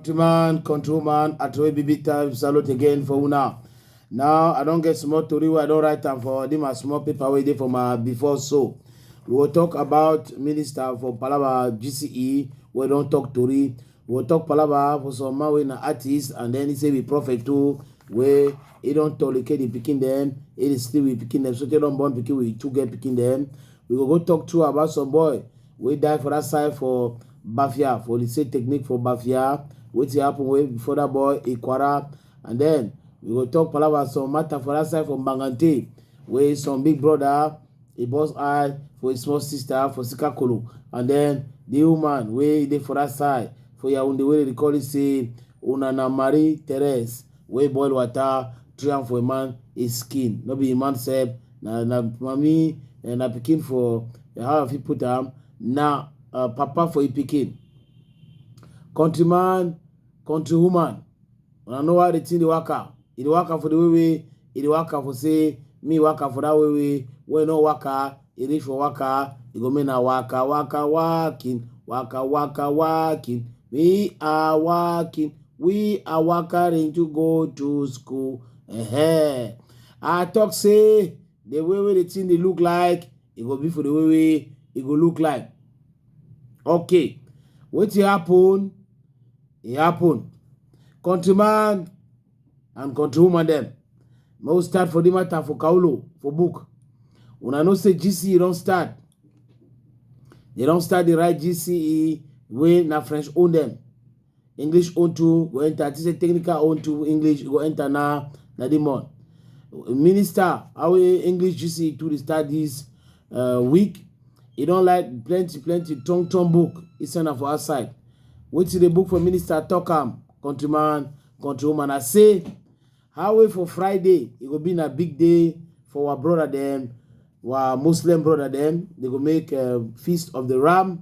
countryman control man atroy bibi time salute again for una now i don get small tori wey i don write am for di my small paper wey dey for my before so we go talk about minister for palaba gce wey don talk tori We'll talk palava for some man wey na artist and then he say be prophet too wey he don tolicate the pikin dem he dey sleep with pikin dem so tey don born pikin with two girl pikin dem we go go talk too about some boy wey die for that side for bafia for the same technique for bafia wetin happen wey before that boy ikwara and then we go talk palava some matter for that side for mbangante wey some big brother He burst eye for his small sister for Sika Kolo, and then the woman wey dey for that side for Yaounde wey dey call it say una na Marie Therese wey boil water three am for a man his skin no be a man sef na na mami eh, na pikin for eh, how I fit put am na uh, papa for a pikin. Countryman Country woman, una know how the thing dey waka. E dey waka for the way wey e dey waka for say me waka for that way wey when e no waka, e reach for waka, e go mean na waka waka walking, waka waka walking. We are walking, we are walking to go to school. Ehen. I talk say the way wey the thing dey look like, e go be for the way wey e go look like. Okay, wetin happen? e happen country man and country woman dem make we start for the matter for kaulo for book una know say gce don start they don start the right gce wey na french own dem english own too go enter to say technical own too english go enter na na the month minister how english gce too dey start this uh, week e don like plenty plenty tongue tongue book e send am for outside wetin the book for minister talk am countryman countrywoman i say how way for friday e go be na big day for our brother dem our muslim brother dem they go make uh, feast of the ram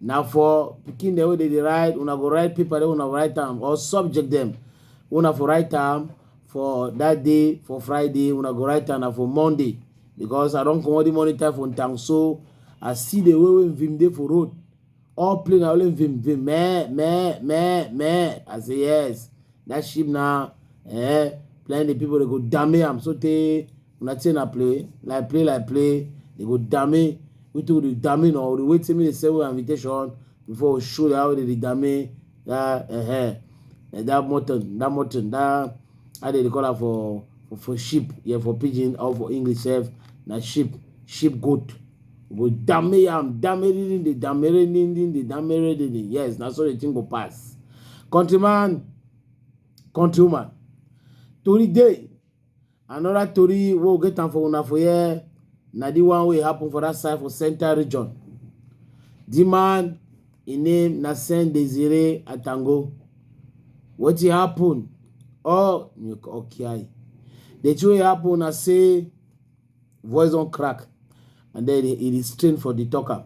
na for pikin dem wey dey dey write una go write paper dem una write am or subject dem una for write am for that day for friday una go write am na for monday because i don comot the morning time for town so i see the way wey vim dey for road all play na only vim vim meh meh meh meh i say yes that sheep na eh plenty people dey go dame am so tey una think na play like play like play they go dame we too dey dame na we dey wait till me dey send we invitation before we show how they dey dame that uh -huh. like that mutton that mutton that how they dey call am for for for sheep yeah for pidgin or for english sef na sheep sheep goat we go dame yam dame dindin dey dame dindin dey dame dindin yes na so the thing go pass countryman countrywoman tori dey Another tori wey we get am for una for here na the one wey happen for that side for central region. The man im name na Sen Desire Atango. Wetin happen? Oh, Okiai. The thing wey happen na say voice don crack and then e dey strain for the talker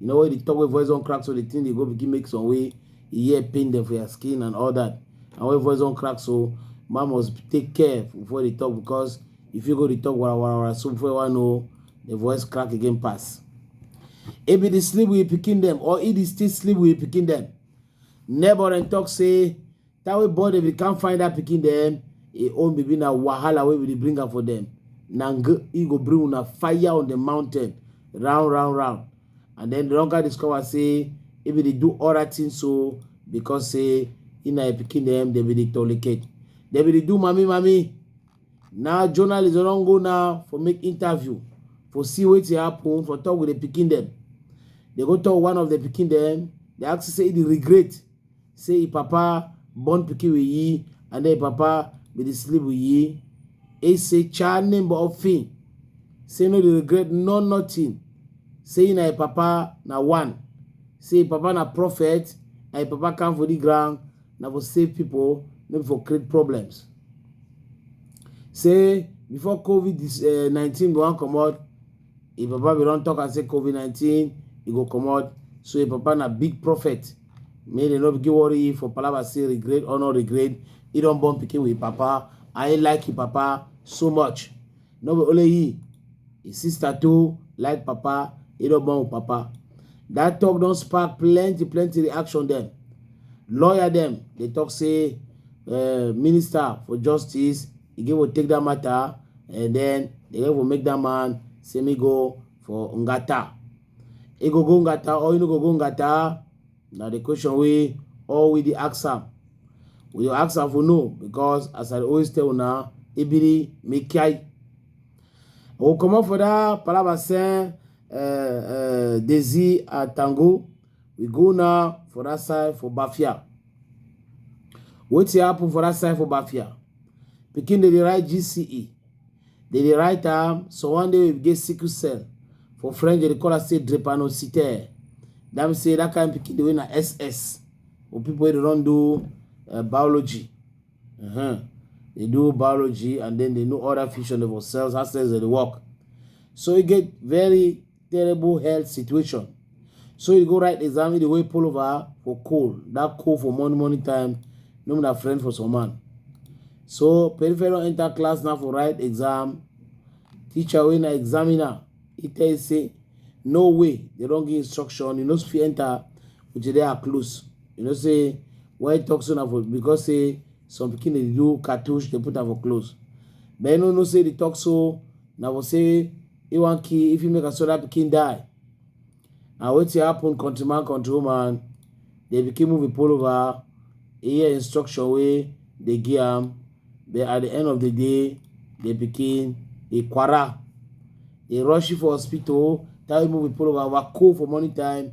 you know when the talk wey voice don crack so the thing dey go begin make some way e hear pain dem for your skin and all that and when voice don crack so man must take care before they talk because if you go dey talk wara wara wara so before you wan know the voice crack again pass e be the sleep with pikin dem or e dey still sleep with pikin dem neighbor dem talk say That way boy if you can't find that picking them, e own baby na wahala wey we dey bring am for them. Na e go bring una fire on the mountain round round round. And then the longer discover say if they do all that thing so because say in a picking them they be the tolicate. They be the do mommy mommy. Now journalists don't go now for make interview for see what happen for talk with the picking them. They go talk one of the picking them. They ask say the regret say e papa born pikin with yi and then e papa be dey sleep with yi. E say cha name of fin say no dey regret no nothing say na e papa na one say e papa na prophet and e papa come for the ground na for save people no be for create problems. Say before covid nineteen go wan comot If Papa we don talk and say COVID-19, e go comot. So if Papa na big prophet, make dem no begin worry you for palava say regret or no regret. He don born pikin with Papa. I like him Papa so much. No be only he, his sister too like Papa. He don born with Papa. That talk don spark plenty plenty reaction dem. Lawyer dem dey talk say uh, minister for justice e get what take that matter and then the devil make that man say me go for ngata e go go ngata or you no go go ngata na the question wey all we dey ask am we dey ask am for no because as i dey always tell una ebiri make kiai o comot for that palaba sen uh, uh, desi atango We go now for that side for Bafia. Wetin happen for that side for Bafia? Pikin dey dey write GCE. Dey dey write am so one day we get sickle cell. For French, they call am say drepanocytaire. That means say that kind pikin dey wey na SS. Or people wey dey don do uh, biology. Uh-huh. They do biology and then they know other fusion of cells, how cells they work. So e get very terrible health situation. So you go write exam, you the way pull over for cold. That cold for morning, morning time, no matter friend for some man. So peripheral enter class now for write exam. Teacher when I examiner, he tell you say, no way, they don't give instruction, you know if you enter, which they are close. You know say, why you talk so now for because say some pikin dey do cartouche dey put am for clothes but you no know say the talk so na for say he wan kill if he make another pikin die na wetin happen country man country woman dey pikin move pull over he hear instruction wey dey give am but at the end of the day the pikin he quarrel he rush you for hospital tell you move pull over waka for morning time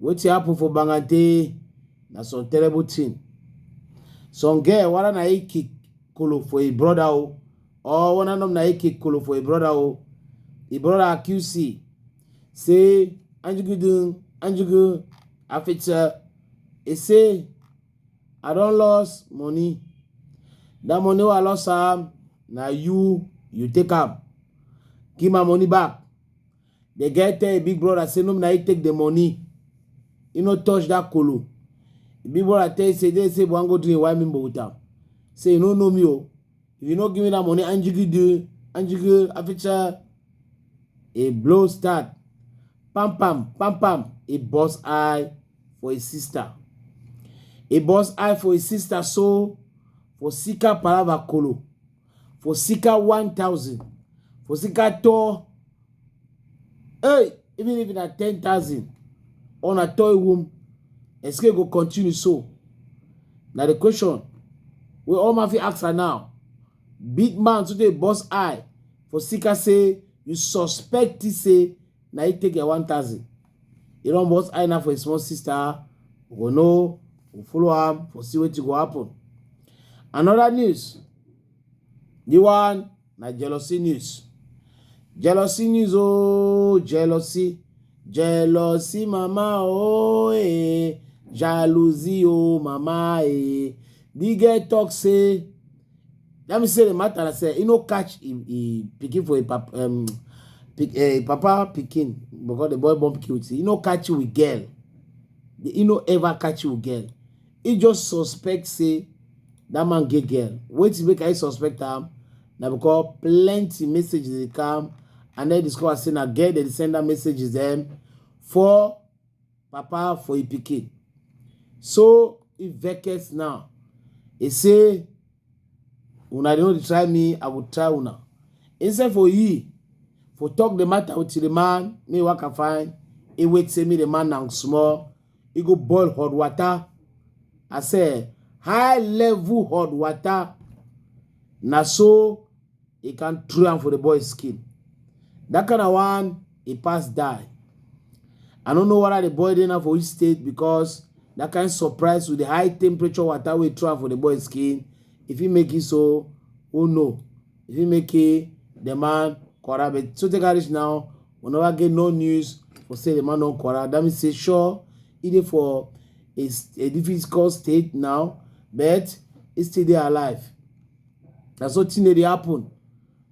wetin happen for bangante na some terrible thing some girl wara na e kick kolo for e brother o or one of na e kick kolo for e brother o e brother accuse say say anjugudun anjugu afitsa e say i don lost money that money wey i lost am na you you take am give my money back the guy tell him big brother say no be na he take the money he no touch that kolo him big brother tell him say they say wan go drink why me with am say you no know me o if you no give me that money anjigi do anjigi aficha a blow start pam pam pam pam he burst eye for his sister he burst eye for his sister so for sika palava kolo for sika 1000 for sika tɔ hey even if na 10000 or na tɔ ewom esike go continue so na the question wey all man fit ask her now big man too dey burst eye for sika say you suspect say na he take your 1000 He don't boss Aina for his small sister. We go know, we follow am for see wetin go happen. Another news. The one na jealousy news. Jealousy news oh, jealousy. Jealousy mama oh eh, jalousie oh mama eh. The girl talk say Let me say the matter, I say, he no catch he, he picking for a pap, um, pick, uh, papa picking because the boy born picking with He no catch you with girl. He no ever catch you with girl. He just suspect say that man get girl. Wait to make I suspect him. Now because plenty messages they come and then discover say na girl they send that messages them for papa for im pikin so e vex now e say una dey no dey try me i go try una instead for he for talk the matter with the man me waka find e wait say me the man na small e go boil hot water i say high level hot water na so he can throw am for the boy skin that kind of one he pass die i no know whether the boy dey now for which state because that kind surprise with the high temperature water wey throw am for the boy skin if he make it so who know if he make it the man quarrel but so take am reach now we never get no news for say the man don quarrel that means say sure he dey for a, a difficult state now but he still dey alive na so thing dey happen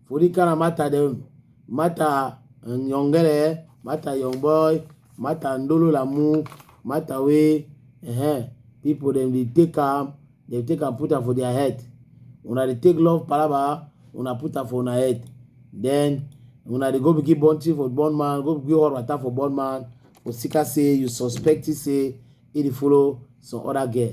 for the kind of matter dem matter um, yongere matter young boy matter ndolo lamu matter wey uh, people dem dey take am dem take am put am for their head una dey take love palaba una put am for una head then una dey go begin born thing for born man go begin hot water for born man osika say you suspect say he dey follow some other girl